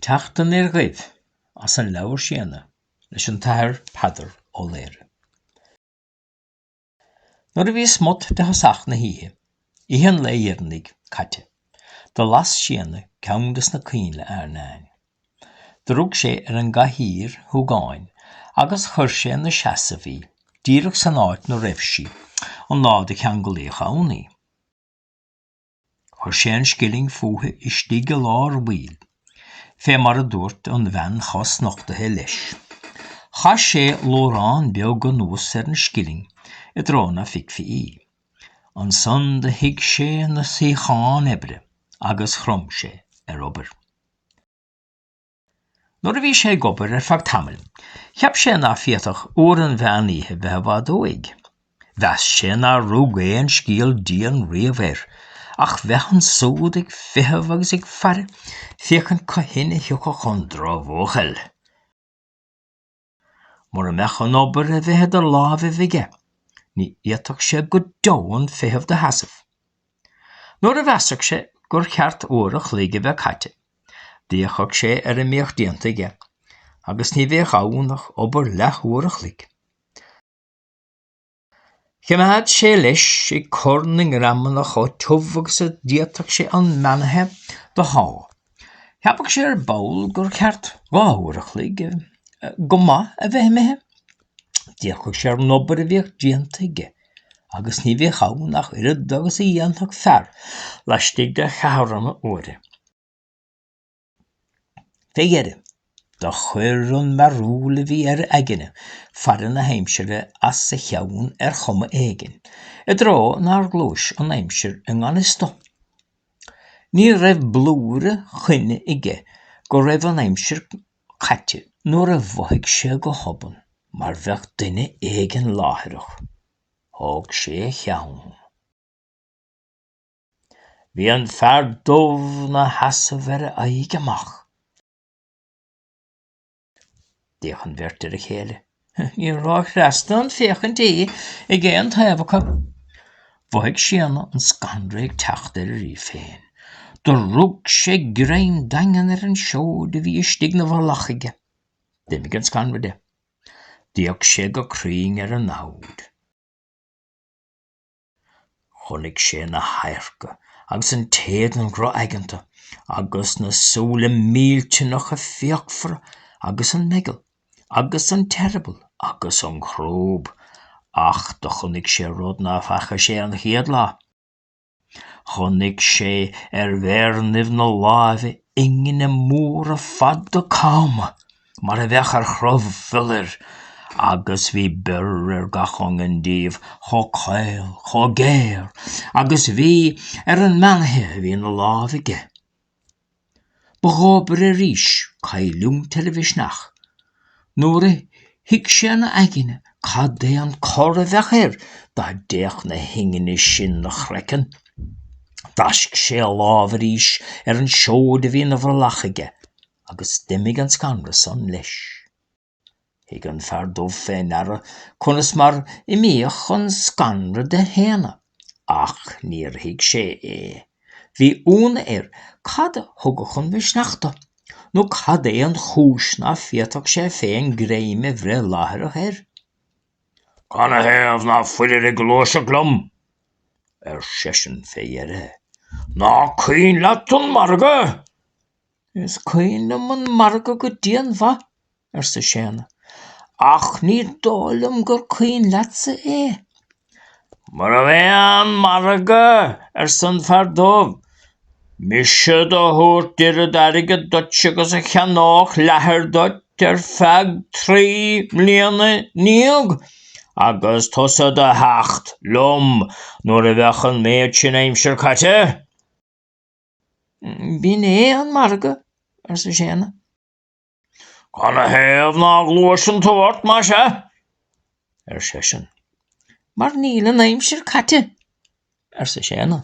Teacht aniar dhuibh as an leabhar Séadna leis an tAthair Peadar Ó Laoghaire. Nuair a bhí smut de thosach na hoíche, oíche an lae dheireanaigh, caite, do las Séadna ceann de sna coinnle airneáin. Do rug sé ar an gcathaoir shúgáin agus chuir sé ina seasamh í, díreach san áit 'na raibh sí an lá do cheanglaíodh ann í. Chuir sé an scilling fúithi istigh i lár bhaill, fé mar a dúirt an bhean chosnochtaithe leis. Chaith sé luaithreán beag anuas ar an scilling i dtreo ná feicfí í. Ansan do shuigh sé 'na suíochán oibre agus chrom sé ar obair. Nuair a bhí sé ag obair ar feadh tamaill, cheap sé ná féadfadh uair an mheán oíche bheith i bhfad uaidh. Mheas sé nár rug aon scéal dian riamh air, ach bheith ansúd ag feitheamh agus ag faire féachaint cathain a thiocfadh an drochbhuachaill. Mura mbeadh an obair a bheith idir lámhaibh aige, ní fhéadfadh sé go deo an feitheamh do sheasamh. Nuair a mheasfadh sé gur cheart uair a chluig a bheith caite, d'fhéachfadh sé ar a mbíodh déanta aige, agus ní bheadh ann ach obair leath-uair a chluig. Choimeád sé leis ag cur na ngreamanna chomh tiubh agus a d'fhéadfadh sé an meanaithe do shá. Cheapadh sé ar ball gur cheart dhá uair a chloig go maith a bheith imithe. D'fhéachfadh sé ar an obair a bhíodh déanta aige agus ní bhíodh ann ach oiread agus a dhéanfadh fear laistigh de cheathrúin uaire. Fé dheireadh, do chuir an mearbhall a bhí ar a aigne faire na haimsire as a cheann ar chuma éigin, i dtreo nár ghluais an aimsir i ngan fhios do. Ní raibh blúire coinne aige go raibh an aimsir caite nuair a mhothaigh sé go hobann mar bheadh duine éigin láithreach. Thóg sé a cheann. Bhí an fear dubh 'na sheasamh ar a aghaidh amach. D'fhéach an bheirt ar a chéile. Níor róchneasta an fhéachaint í ag aon taobh acu. Mhothaigh Séadna an scanradh ag teacht air aríst féin. Do rug sé greim daingean ar an seoid a bhí istigh 'na bhrollach aige. D'imigh an scanradh de. D'fhéach sé go cruinn ar an namhaid. Chonaic sé na hadharca agus an t-éadan drochaigeanta agus na súile millteanacha fíochmhara agus an meigeall agus an t-eireaball agus an chrúb. Ach do chonaic sé rud ná feacaigh sé an chéad lá. Chonaic sé ar mhéireannaibh na láimhe ingne móra fada cama. mar a bheadh ar chrobh fiolair, agus bhí bior ar gach iongain díobh, chomh caol, chomh géar, agus bhí ar an meanaithe a bhí 'na láimh aige. Ba dhóbair arís cailliúint ar a mhisneach, nuair a thuig sé 'na aigne cad é an cor a bheadh air dá dtéadh na hingne sin 'na chraiceann. D'fháisc sé a lámh arís ar an seoid a bhí 'na bhrollach aige. Agus d'imigh an scanradh san leis. Thug an Fear Dubh fé ndeara conas mar imíodh an scanradh de Shéanna, ach níor thuig sé é. Bhí ionadh air cad a thugadh an misneach dó, nó cad é an chúis ná féadfadh sé féin greim a bhreith láithreach air. Canathaobh ná fuilir ag gluaiseacht liom? ar seisean fé dheireadh. Ná cuimhin leat an margadh! Is cuimhin liom an margadh go dianmhaith, arsa Séanna, ach ní dóigh liom gur cuimhin leatsa é. Nárbh é an margadh, arsa an Fear Dubh, mise do thabhairt oiread airgid duit agus a cheannódh leathar duit ar feadh trí mbliana ndéag, agus tusa do theacht liom nuair a bheadh an méid sin aimsir caite. B'in é an margadh, arsa Séanna. Canathaobh ná gluaiseann tú ort, má sea? ar seisean. Mar níl an aimsir caite, arsa Séanna.